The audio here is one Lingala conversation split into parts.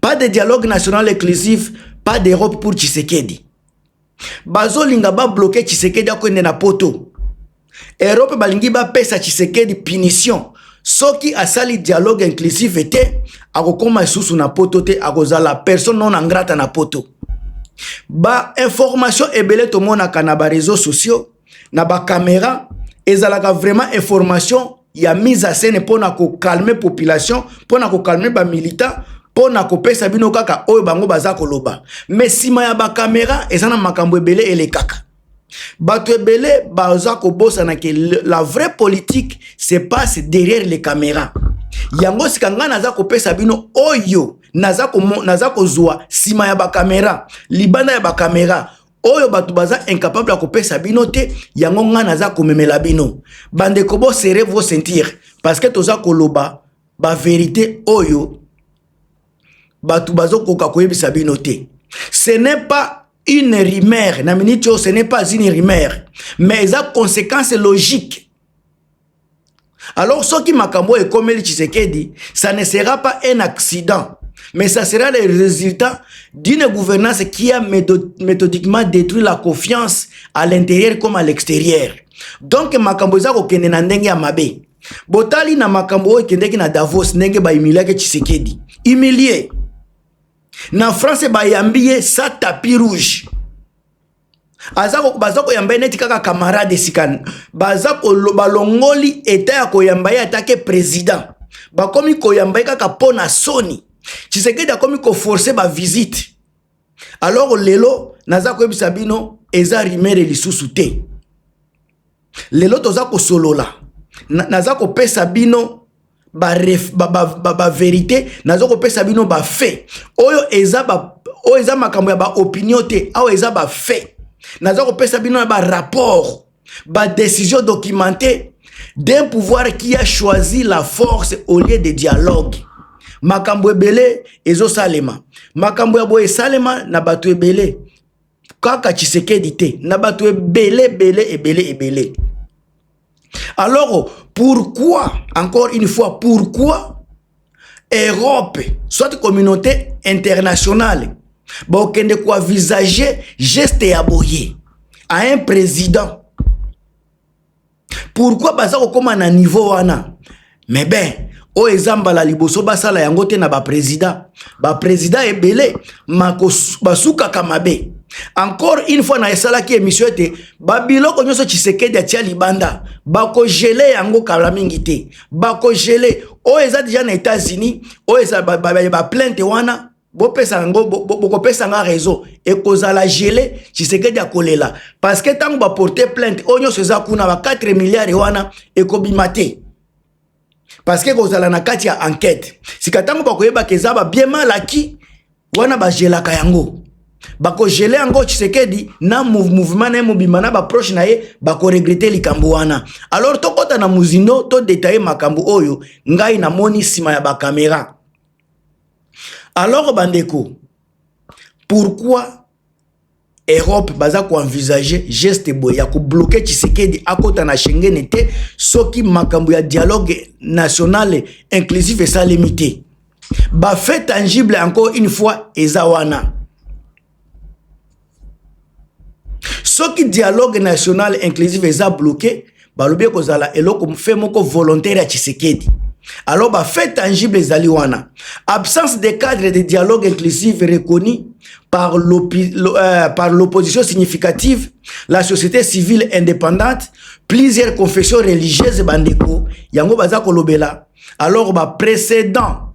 pas de dialogue national inclusif pas d'europe pour tshisekedi bazolinga babloke tshisekedi akoende na poto europe balingi bapesa tshisekedi punition soki asali dialogue inclusive te akokoma lisusu na poto te akozala personne non angrata na poto bainformation ebele tomonaka na bareseau sociaux na bakamera ezalaka vraiment information ya mise à scène mpo na kokalme population mpo na kokalme bamilitant mpo na kopesa bino kaka oyo bango baza koloba me nsima ya bakamera eza na makambo ebele elekaka bato ebele baza kobosana ke la vraie politique se passe derrière les caméras yango sika ngai naza kopesa bino oyo naza kozwa nsima ya bakamera libanda ya bakamera oyo bato baza incapable ya kopesa bino te yango ngai naza komemela bino bandeko bo serre vos ceinture parce que toza koloba baverité oyo bato bazokoka koyebisa bino te ce n'est pas une rumeur na minute oyo ce n'est pas une rumeur mais eza conséquence logique Alors soki makambo ekomeli Tshisekedi, ça ne sera pas un accident, mais ça sera le résultat d'une gouvernance qui a méthodiquement détruit la confiance à l'intérieur comme à l'extérieur. Donc makambo eza kokende na ndenge ya mabe. Botali na makambo oyo ekendeki na Davos ndenge ba humiliaki Tshisekedi. Humilié. Na France bayambi ye sa tapis rouge. aza baza koyamba ye neti kaka camarade esika baza balongoli eta ya koyamba ye atake président bakomi koyamba ye kaka mpo na soni tshisekedi akomi koforce bavisite alors lelo naza koyebisa bino eza rimere lisusu te lelo toza kosolola naza kopesa bino baverite ba, ba, ba, ba naza kopesa bino bafait oyo eza ba, oyo eza makambo ya baopinion te awa eza bafait naza kopesa bino na barapport badécision documente d'un pouvoir qui a choisi la force au lieu de dialogue makambo ebele ezosalema makambo ya boye esalema na bato ebele kaka tshisekedi te na bato ebele ebele ebele ebele alors pourquoi encore une fois pourquoi europe soit communauté internationale bakokende koenvisage geste ya boye à un président pourquoi baza kokoma na niveau wana mais ben oyo eza mbala liboso basala yango te na baprezida baprezida ebele basukaka mabe encore une fois na esalaki émission ete babiloko nyonso tshisekedi atia libanda bakogele yango kala mingi te bakogele oyo eza deja na états-unis oyo eza baplainte ba, ba, ba wana bopesa yango bokopesa nga réseau ekozala gele tshisekedi akolela parce que ntango baporte plainte oyo nyonso eza kuna ba 4 milliard wana ekobima te parce que ekozala na kati ya enquête sika ntango bakoyebaka eza babie malaki wana bagelaka yango bakogele yango tshisekedi na mouvement na ye mobimba na baproche na ye bakoregrete likambo wana alors tokɔta na mozindo todetaye makambo oyo ngai namoni nsima ya bakamera alors bandeko pourquoi Europe baza ko envisager geste boye ya ko bloquer Tshisekedi akota na Schengen te soki makambo ya dialogue national inclusif esalemi te ba fait tangible encore une fois eza wana soki dialogue national inclusive eza bloqué balobi ekozala eloko fe moko volontaire ya tshisekedi alors ba fait tangible ezali wana absence de cadre de dialogue inclusive reconnu par euh, l'opposition euh, significative la société civile indépendante plusieurs confessions religieuses bandeko yango baza kolobela alors ba précédent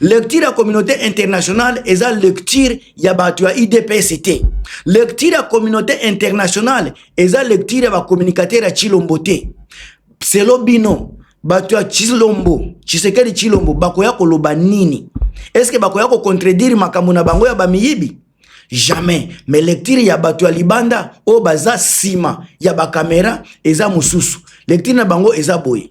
lecture ya communauté internationale eza lecture ya bato ya idps te lecture ya communauté internationale eza lecture ya bacommunicateur ya chilombo te selo bino bato ya chilombo chisekeli chilombo bakoya koloba nini eske bakoya kocontredire makambo na bango ya bamiyibi jamais mais lecture ya bato ya libanda oyo baza nsima ya bakamera eza mosusu lecture na bango eza boye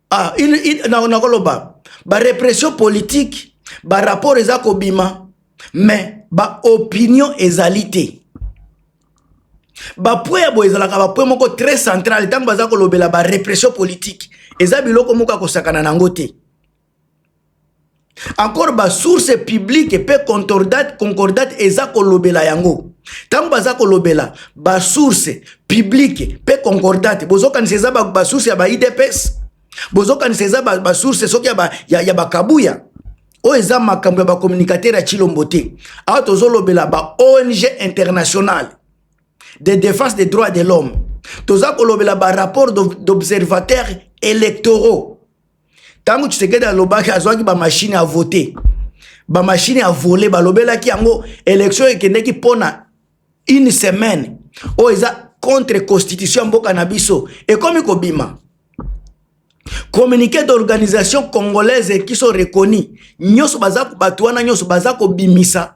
ah, il, il, na, na koloba ba repression politique ba rapport eza kobima mais ba opinion ezali te bapwe ya boye ezalaka bapwe moko très central ntango baza kolobela ba repression politique eza biloko moko ya kosakana na yango te encore ba source publique mpe concordate, concordate eza kolobela yango ntango baza kolobela ba source publique mpe concordate bozokanisa eza ba, ba source ya ba idps bozokanisa eza ba, ba source soki ya, ba, ya, ya bakabuya oyo eza makambo ya bacommunicateur ya chilombo te awa tozolobela ba ong internationale de défense des droits de l'homme toza kolobela ba rapport d'observateur électoraux ntango tshisekedi alobaki azwaki bamashine ya vote bamashine ya vole balobelaki yango elektio ekendeki mpo na une semaine oyo eza contre constitution ya mboka na biso ekomi kobima communiqué d'organisation congolaise qui sont reconnus nyonso baza bato wana nyonso baza kobimisa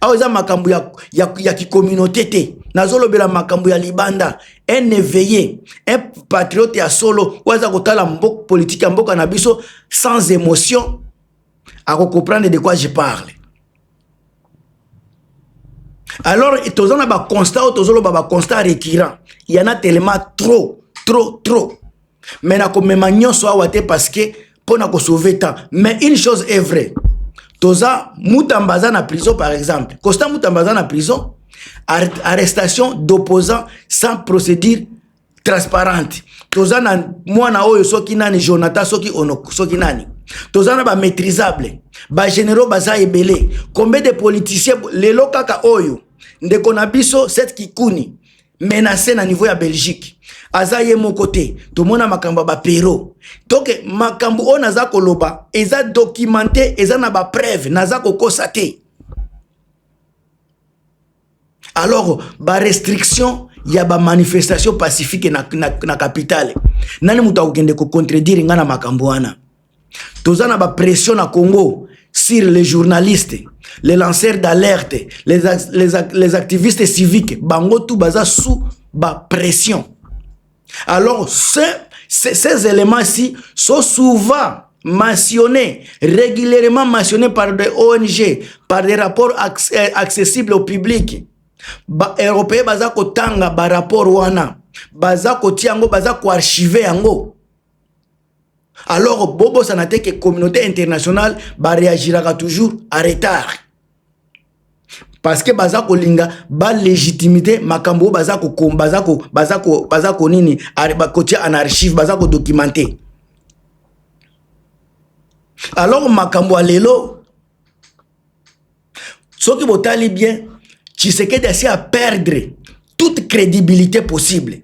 awa eza makambo ya, ya, ya kicommunauté te nazolobela makambo ya libanda un éveillé un patriote ya solo oyo aza kotala mboka politike ya mboka na biso sans émotion akocomprendre de quoi je parle alors toza na baconstat oyo tozoloba baconstat récurrent yana telema trop trop trop mais nakomema nyonso awa te parce que mpo na kosauve temps mais une chose est vrai toza mutamba aza na prison par exemple costa mutamba aza na prison arrestation d'opposant sans procédure transparente toza na mwana oyo soki nani jonathan soki ono soki nani toza na bamaîtrisable bagénéraux baza ebele combien de politicien lelo kaka oyo ndeko na biso set kikuni menace na niveau ya belgique aza ye moko te tomona makambo ya bapero toke makambo oyo naza koloba eza documente eza na bapreuve naza kokosa te alors barestriction ya bamanifestation pacifique na, na, na capitale nani moto akokende kocontredire ngai na makambo wana toza na ba pression na Congo sur les journalistes les lanceurs d'alerte les, les, les activistes civiques bango tout baza sous ba pression alors ce, ces, ces éléments ci sont souvent mentionnés régulièrement mentionnés par des ONG par des rapports euh, accessibles au public ba européen baza kotanga ba rapport wana baza kotia yango baza koarchive yango alors bobosana te ke communauté internationale bareagiraka toujours à retard parce que baza kolinga balegitimité makambo oyo baza kokoma baza ko baza ko baza konini kotia en archive baza kodocumente alors makambo ya lelo soki botali bien tshisekedi asi a perdre toute crédibilité possible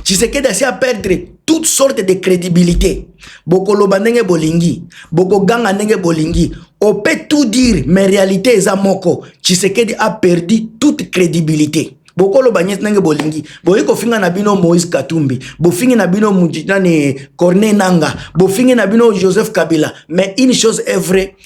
tshisekedi asi a perdre toute sorte de crédibilité bokoloba ndenge bolingi bokoganga ndenge bolingi on peut tout dire mais réalité eza moko tshisekedi a perdu toute crédibilité bokoloba nyeti ndenge bolingi boye kofinga na bino moïse katumbi bofingi na bino nani corne nanga bofingi na bino joseph kabila mais une chose est vrai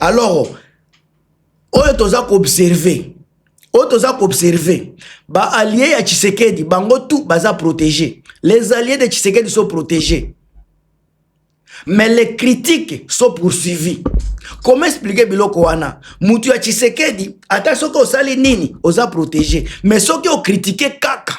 alors oyo toza koobserve oyo toza koobserve baallie ya tshisekedi bango tout baza protege les alliés de tshisekedi sont protégés mais les critiques sont poursuivis comment expliquer biloko wana mutu ya tshisekedi ata soki osali nini oza protege mais soki okritike kaka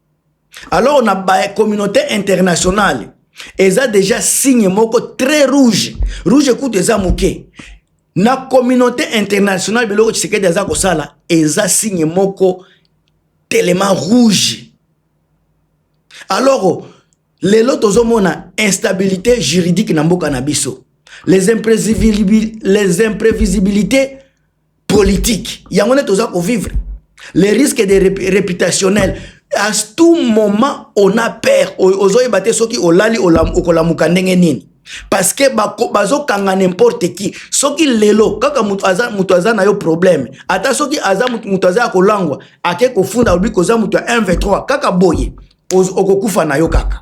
alors na ba communauté internationale eza déjà signe moko très rouge rouge kutu eza moke na communauté internationale biloko tshisekedi aza kosala eza signe moko telema rouge alors lelo tozomona instabilité juridique na mboka na biso les imprévisibilités politique yango nde toza kovivre les risques de réputationnel à tout moment on a peur ozoyeba te soki olali okolamuka ndenge nini parce que bazokanga n'importe qui soki lelo kaka moto aza, moto aza na yo problème ata soki aza moto aza ya kolangwa ake kofunda olobi koza moto ya 1 v3 kaka boye okokufa na yo kaka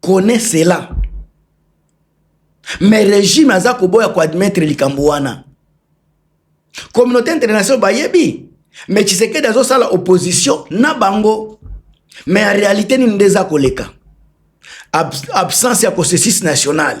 connais cela mais regime aza koboya koadmettre likambo wana communauté internationale bayebi mais tshisekedi azosala opposition na bango mais ya réalité nini nde eza koleka Ab absence ya consensus nationale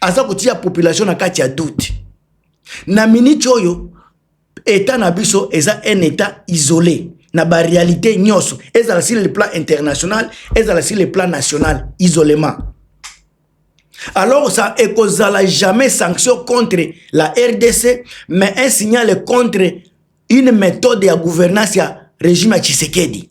aza kotia population na kati ya doute na miniti oyo etat na biso eza un etat isolé na baréalité nyonso ezala sur le plan international ezala sur le plan national isolement alors ça ekozala jamais sanction contre la rdc mais un signal contre une méthode ya gouvernance ya régime ya tshisekedi